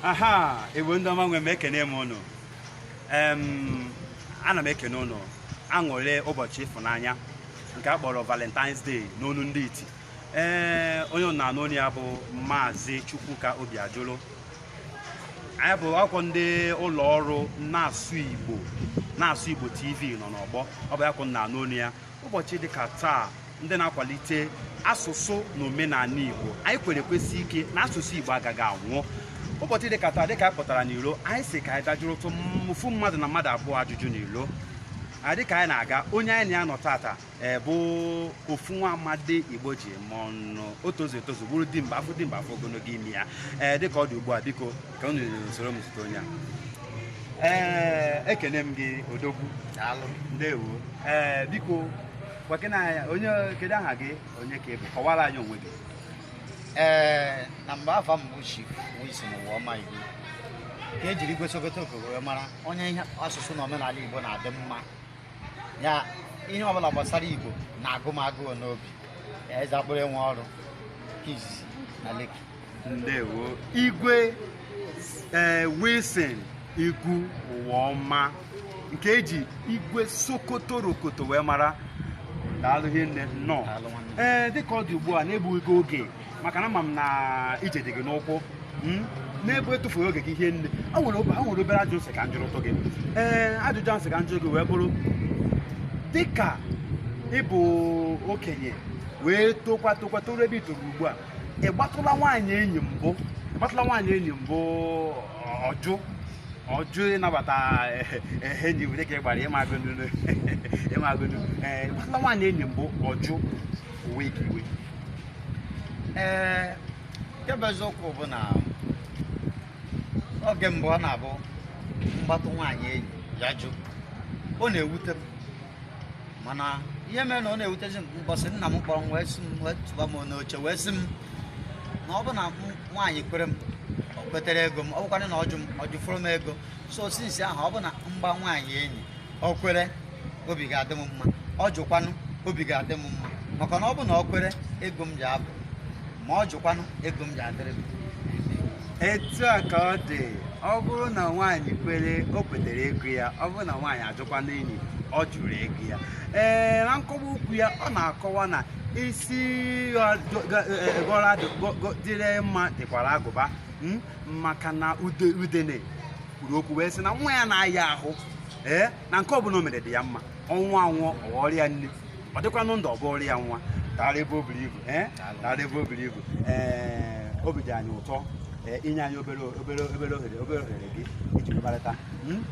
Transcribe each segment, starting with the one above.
aha igbo ndị ọma nwe m ekene m ụnụ Em, ana m ekene ụnụ aṅụrị ụbọchị ịfụnanya nke a kpọrọ valentines day n'onu ndị iti ee onye ụnụ na-anụ olu ya bụ maazị chukwuka obiajụlụ anyị bụkwa ndị ụlọ ọrụ na-asụ igbo na-asụ igbo tv nọ n'ọgbọ ọ bụ ya ka ụnụ na-anụ olu ya ụbọchị dịka taa ndị na-akwalite asụsụ na omenala Igbo anyị kwere kwesie ike na asụsụ Igbo agaghị anwụ ụbọchị dịka taa dịka anyị pụtara n'ilo anyị sị ka anyị dajụrụtụ ofu mmadụ na mmadụ abụọ ajụjụ n'ilo dịka anyị na-aga onye anyị na ya nọ tata e, bụ ofu nwa amadi Igbo ji eme ọnụ o tozu etozu bụrụ dimkpa a fụ dimkpa a fụ ogologo imi ya ee dịka ọ dị ugbu a biko ka unu soro m zute onye a ee ekene m gị odogwu ndewo ee biko Gwakene anyị, onye kedu aha gị onye ka ị bụ kọwara anyị onwe gị ee na mgbe afa m bụ chief Wilson Ụwaọma Igbo ka e jiri igwe Sokotorokoto wee mara onye ihe asụsụ na omenala Igbo na-adị mma ya ihe ọbụla gbasara Igbo na-agụ m agụụ n'obi eze akpụrụ enwe ọrụ nke izizi na Lekki ndewo igwe ee wilson igwu ụwaọma nke eji igwe sokotorokoto wee mara daalụ hinne nnọọ Daalụ nwanne. ee dịka ọ dị ugbu a na-egbughị gị oge maka na ama m na ije dị gị n'ụkwụ mm, n'ebe etufughị oge gị hinne a nwere obe- a nwere obere ajụjụ m sị ka m jụrụtụ gị ee ajụjụ m sị ka m jụrụ gị wee bụrụ dịka ị bụ okenye wee tokwa tokwa toruo ebe i toro ugbu a ị gbatụla nwaanyị enyi mbụ ị gbatụla nwaanyị enyi mbụ ọ jụ ọ jụ ịnabata enyi were ka ị gbara ịma agụnụ ịma agụnụ ee ị gbatụla nwaanyị enyi mbụ ọ jụ o wee gị iwe ee nke bụ eziokwu bụ na oge mbụ ọ na-abụ m gbatụ nwaanyị enyi ya jụ ọ na-ewute m mana ihe mere na ọ na-ewutezi m mbọsị nna m kpọrọ m wee sị m wee tụba m n'oche wee sị m na ọ bụ na m- nwaanyị kwere m o kwetere ego m ọ bụkwanụ na ọ jụ m ọ jụfụrụ m ego so since ahụ ọ bụ na m gbaa nwaanyị enyi o kwere obi ga-adị m mma ọ jụkwanụ obi ga-adị m mma maka na ọ bụ na o kwere ego m ja-agwụ ma ọ jụkwanụ ego m ja-adịrị m etu a ka ọ dị ọ bụrụ na nwaanyị kwere o kwetere ego ya ọ bụrụ na nwaanyị ajụkwanụ enyi ọ jụrụ ego ya ee na nkọwa okwu ya ọ na-akọwa na isi gọra dịrị mma dịkwara agụba mma maka na ude- udene kwuru okwu wee sị na nwa ya na-aya ahụ ee na nke ọbụla o mere dị ya mma ọ nwụọ anwụ ọ ghọrọ ya nni ọ dịkwanụ ndụ ọ bụrụ ya nwa daalụ ebe o buru ibu ee daalụ ebe o buru ibu ee obi dị anyị ụtọ ee inye anyị obere obere obere ohere obere ohere gị iji kparịta Hmm?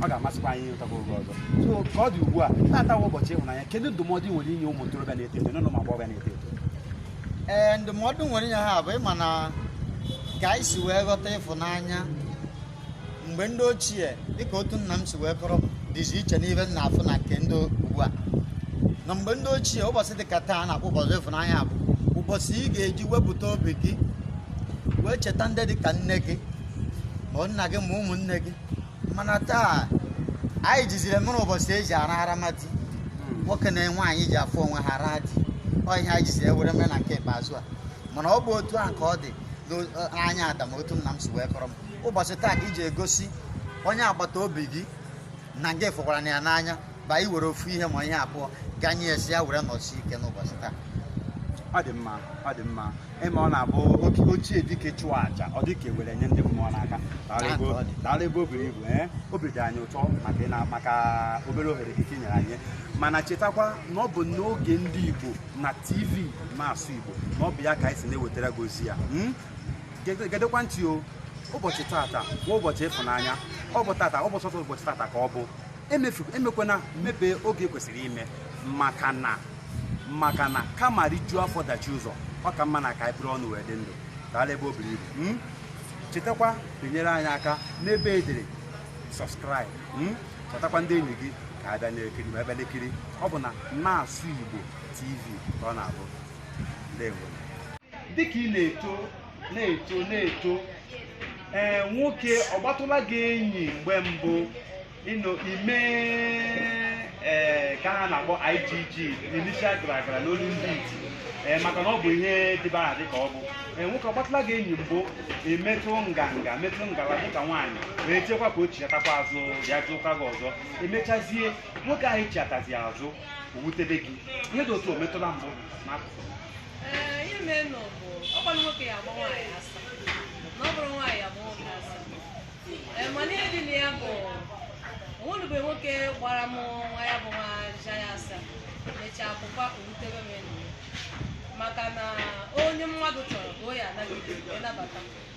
ọ ga-amasịkwa anyị ịnụtakwa oge ọzọ so ka ọ dị ugbu a na taa wụ ụbọchị ịhụnanya kedu ndụmọdụ ị nwere inye ụmụ ntorobịa na-eto eto na ụmụ agbọghọbịa na-eto eto ee ndụmọdụ m nwere inye ha bụ ịma na ka anyị si wee ghọta ịfụnanya mgbe ndị ochie dịka otu nna m si wee kọrọ dịzi iche n'ife m na-afụ na nke ndị ugbu a na mgbe ndị ochie ụbọchị dịka taa na-akpọ ụbọchị ịfụnanya bụ ụbọchị ị ga-eji wepụta obi gị wee cheta ndị dịka nne gị ma nna gị ma ụmụnne gị mana taa anyị jiziri mere ụbọchị eji arahara ma di nwoke na nwaanyị ji afụ onwe ha ara di ọ ihe anyị jiziri ewere mere na nke ikpeazụ a mana ọ bụ otu a ka ọ dị n'anya ada m otu nna m si wee kọrọ m ụbọchị taa ka iji egosi onye agbata obi gị na gị fụkwaranụ ya n'anya ba i were ofu ihe ma ihe abụọ ganye ya sị ya were nọsi ike n'ụbọchị taa ọ dị mma ọ dị mma ịma ọ na-abụ oke ochie dike chụọ aja ọ dịka ewere nye ndị mmụọ n'aka Daalụ ebe o- daalụ ebe o buru ibu ee obi dị anyị ụtọ maka ị na- maka obere ohere gị i nyere anyị mana chetakwa na ọ bụ n'oge ndị Igbo na TV na-asụ Igbo na ọ bụ ya ka anyị si na-ewetara gị ozi ya Mm? Gede- gedekwa ntị o ụbọchị tata bụ ụbọchị ịfụnanya ọ bụ tata ọ bụ sọsọ ụbọchị tata ka ọ bụ emefu emekwana mefee oke e kwesịrị ime maka na maka na kama rijuo afọ dachi ụzọ ọ ka mma na ka anyị buru ọnụ wee dị ndụ daalụ ebe o buru ibu mm? chetakwa binyere anyị aka n'ebe edere sọbskraịb mm? chetakwa ndị enyi gị ka ha bịa na-ekiri ma ebe na-ekiri ọ bụ na na-asụ igbo tv ka ọ na-abụ ndewo dịka ị na-eto na-eto na-eto ee nwoke ọ gbatụla gị enyi mgbe mbụ ị na-eme ee ka ha na-akpọ IGG initial gragra n'olu ndị iti ee maka na ọ bụ ihe dịbara adị ka ọ bụ ee nwoke ọ gbatụla gị enyi mbụ i metụ nganga metụ ngala dịka nwaanyị wee chekwa ka o chiatakwa azụ bịa jụkwa gị ọzọ emechazie nwoke ahụ chiatazi azụ o wutebe gị ihe dị otu a o metụla mbụ n'akụkụ Ee, ihe merenụ bụ ọkwa na nwoke ya agba nwaanyị asa na ọ bụrụ nwaanyị agba nwoke asa Ee, mana ihe dị na ya bụ onwelube nwoke gbara m nwa ya bụ nwa aja ya asa mechaa akwụkwọ owutebe m enyi ya. maka na onye mmadụ chọrọ ka o ya anagide wee nabata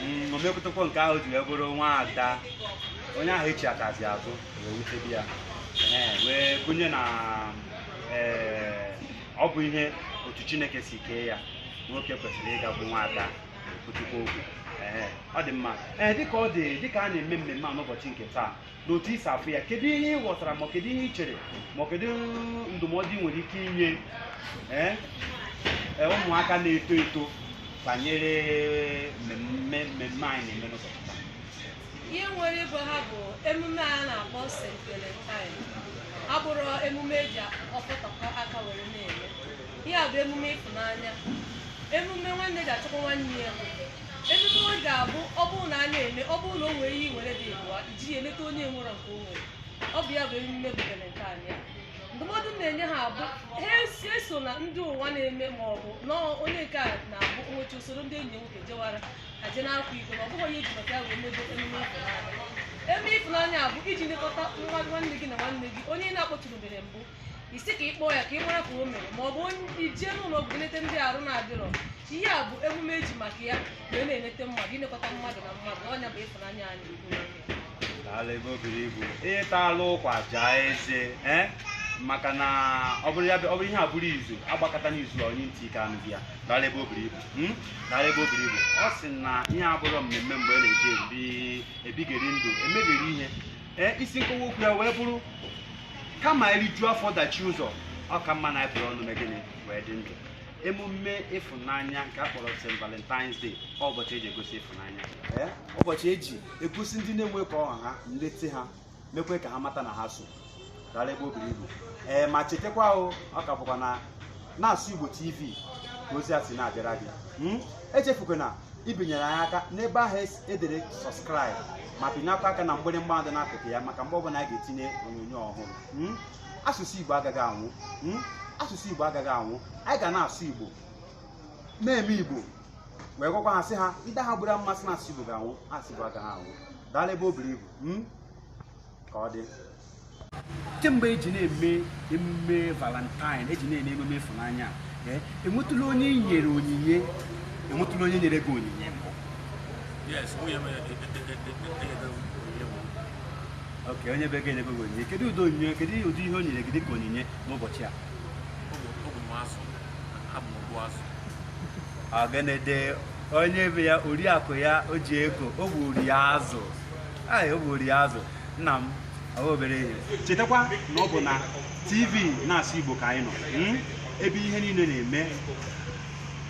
Mm, o mepụtakwa nke ahụ ji wee bụrụ nwa ada onye ahụ echiatazi azụ wee wutebe ya Ee, wee gụnye na ee, ọ bụ ihe otu chineke si kee ya nwoke kwesịrị ịgakwu nwa ada kwutukwa okwu Ee, ọ dị mma ee dịka ọ dị dịka a na-eme mmemme a n'ụbọchị nke taa n'otu i si afụ ya kedu ihe ị ghọtara ma kedu ihe ị chere ma kedu ndụmọdụ ị nwere ike inye ee ee, ụmụaka na-eto eto banyere mmemme mmemme anyị na-eme n'ụbọchị taa? ihe m nwere ịgwa ha bụ emume a na-akpọ St. Valentine abụrọ emume eji ọkpọtọkọ aka were na-eme ihe a bụ emume ịfụnanya emume nwanne ji achọkwa nwanne ya Ememe ọ ga-abụ ọ bụrụ na a na-eme ọ bụrụ na o nwere ihe i nwere dị ịbụa i jiri emeta onye nwerọ nke o nwere ọ bụ ya bụ emume bụ Valentine a. ndụmọdụ m na-enye ha bụ ha esona ndị ụwa na-eme ma ọ bụ na onye nke a na-abụ nwaanyị isoro ndị enyi ya nwoke jewara ha je na-akwa iko na ọ bụghị ihe e ji maka ya wee mebe emume ịfụnanya emume ịfụnanya a bụ iji lekọta nwa nwanne gị na nwanne gị onye ị na-akpọtụrụbeghị mbụ ị sị ka ị kpọọ ya ka ị mara ka o mere ma ọ bụ onye i jee n'ụlọ ọgwụ nleta ndị arụ na-adịrọ ihe a bụ emume eji maka ya wee na-enete mmadụ ilekọta mmadụ na mmadụ ọ nya bụ ịfụnanya anyị ukwu n'oge ya. Daalụ ebe o buru ibu ị talụ ụkwa jaa eze eh? maka na ọ bụrụ ya bụ- ọ bụrụ ihe abụrọ izu agbakọta n'izu onye ntị ike anụghị ya daalụ ebe o buru ibu hmm? daalụ ebe o buru ibu ọ sị na ihe a abụrọ mmemme mgbe a na-eji ebi ebigheri ndụ emebiri ihe ee isi nkọwa okwu ya wee bụrụ kama e rijuo afọ dachie ụzọ ọ ka mma na anyị buru ọnụ mee gịnị wee dị ndụ emume ịfụnanya nke a kpọrọ St. Valentine's Day ọ ụbọchị eji egosi ịfụnanya Ee, ụbọchị eji egosi ndị na-enwe ka ọ ha ha nleta ha mekwaa ka ha mata na ha so daalụ ebe o buru ibu ee ma chetakwa o ọ ka bụkwa na na-asụ Igbo TV ka ozi a si na-abịara gị Hmm? echefukwana ibinyere anyị aka n'ebe ahụ esi edere sọskraịbụ ma pịnyekwa aka na mgbịrịmgba dị n'akụkụ ya maka mgbe ọbụla anyị ga-etinye onyonyo ọhụrụ Hmm? asụsụ igbo agaghị anwụ Hmm? asụsụ igbo agaghị anwụ anyị ga na-asụ igbo na-eme igbo wee gwakwa ha sị ha ndị ahụ buru amụma sị na asụsụ igbo ga-anwụ asụsụ igbo agaghị anwụ daalụ ebe o buru ibu Hmm? ka ọ dị kemgbe eji na-eme emume valentine eji na-eme emume ịfụnanya eh, enwetụla onye nyere onyinye enwetụla onye nyere gị onyinye ok onye be gị enyego gị onyinye kedu ụdị onyinye kedu ụdị ihe o nyere gị dịka onyinye n'ụbọchị a ọ gịnịdị onye be ya oriakụ ya o ji ego o gburu ya azụ a egburu ya azụ nna m abụghị obere ihe chetakwa na ọ bụ na tv na-asụ igbo ka anyị nọ hmm? ebe ihe niile na-eme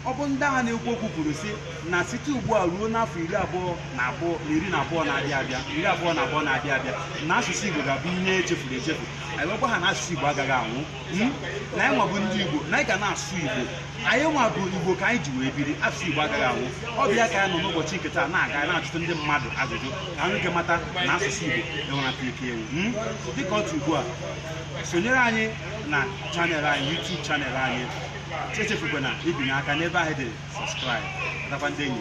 ọ bụ ndị ahụ na-ekwu okwu kwuru sị na site ugbu a ruo n'afọ iri abụọ na abụọ na iri na abụọ na-abịa abịa iri abụọ na abụọ na-abịa abịa na asụsụ igbo ga-abụ ihe echefuru echefu anyị gwakwa ha na asụsụ igbo agaghị anwụ hmm? na anyị nwa bụ ndị igbo na anyị ga na-asụ igbo anyị nwa bụ igbo ka anyị ji wee biri asụsụ igbo agaghị anwụ ọ bụ ya ka anyị nọ n'ụbọchị nke taa na-aga na-ajụta ndị mmadụ ajụjụ ka anyị ga mata na asụsụ igbo enwerata ike ewu hmm? dịka otu ugbu a sonyere anyị na channel anyị YouTube channel anyị echefukwana ibinye aka n'ebe ahụ dị subscribe atakwa ndị enyi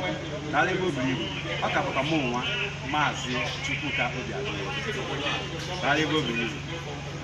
daalụ ebe o buru ibu ọ ka bụkwa mụ nwa maazị Chukwuka Obiagụ daalụ ebe o buru ibu